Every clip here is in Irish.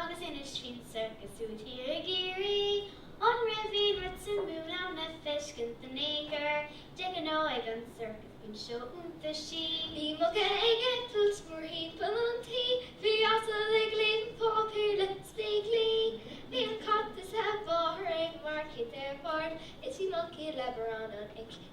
Agus inis faoin sorcas úd thiar i gCiarraí, an raibh aon rud suimiúil ann le feiscint in aon chor? De ghnáth ag an sorcas bíonn seó iontaisí. Bhí muca ag eitilt mórthimpeall an tí, bhí asal ag léamh páipéir le spéaclaí, bhí an cat is a mháthair ag marcaíocht ar bord, is bhí moncaí le barrán an oilc.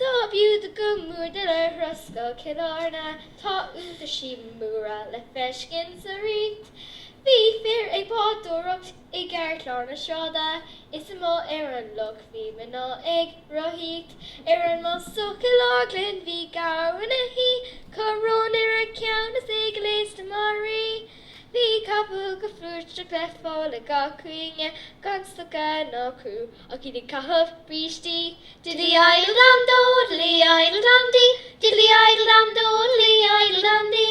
Dob fhiú duit go mór dul ar thuras go Cill Airne tá iontaisí móra le feiscint sa Ríocht bhí fir ag bádóireacht i gceartlár na sráide is amuigh ar an loch bhí mná ag rothaíocht ar an mbáisteach i gCill Orglan bhí gabhar ina shuí coróin ar a cheann is é gléasta mar rí. Bhí capaill go flúirseach le fáil ag gach cúinne gan stoca ná crú ach iad ag caitheamh brístí. Diddly-idle-dam-do, diddly-idle-dam-di, diddly-idle-dam-do, diddly-idle-dam-di.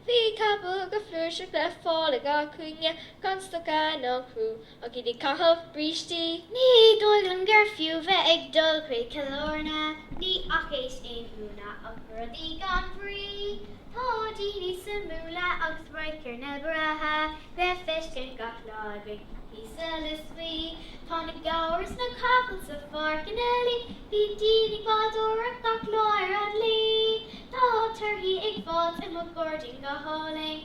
Bhí capaill go flúirseach le fáil ag gach cúinne gan stoca ná crú. Ach iad ag caitheamh brístí. Ní dóigh liom gur fiú bheith ag dul chuig Cill Airne, ní fhacaís aon ionadh ach rudaí gan bhrí. Tá daoine suimiúla agus radharcanna breátha le feiscint gach lá againn thíos sa Lios Buí. Tá na gabhair is na capaill sa pháirc ina luí, bíonn daoine ag bádóireacht gach lá ar an Laoi. Tá torthaí ar fáilt i mo ghairdín go hálainn.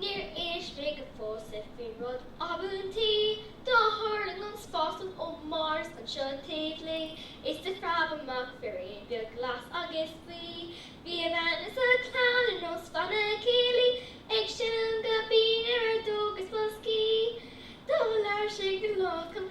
Níor inis mé dhuit fós faoin rud ab iontaí do thuirling an spáslong ó Mhars anseo taobh Laoi is do phreab amach firín beag glas agus buí. Bhí a bhean is a chlann ar nós bhanna céilí ag seinm go binn ar fheadóg is boscaí. Do labhair sé go lách liom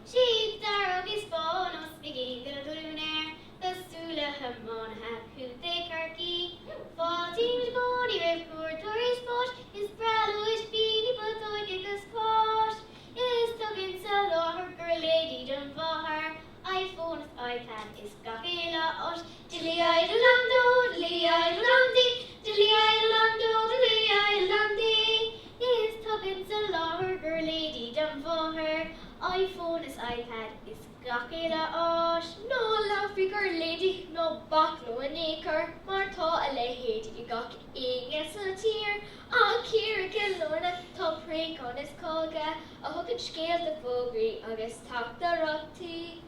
Siad dearg is bán is brístín go glúin air cosúil le hiománaithe Chontae Chorcaí. Fáiltím i gcónaí roimh chuairteoirí spáis is breá leo ispíní putóga agus cáis is tugann sa láthair giuirléidí don mháthair iPhone is iPad is gach uile áis Diddly-idle-dam-do, diddly-idle-dam-di, diddly-idle-dam-do, diddly-idle-dam-di, is tugann sa láthair giuirléidí don mháthair, iPhone is iPad is gach uile áis. Ná labhair faoi ghiuirléidí ná bac leo in aon chor mar tá a leithéid ag gach éinne sa tír ach thiar i gCill Airne, tá préacháin is cága a thugann scéalta fógraí agus teachtaireachtaí.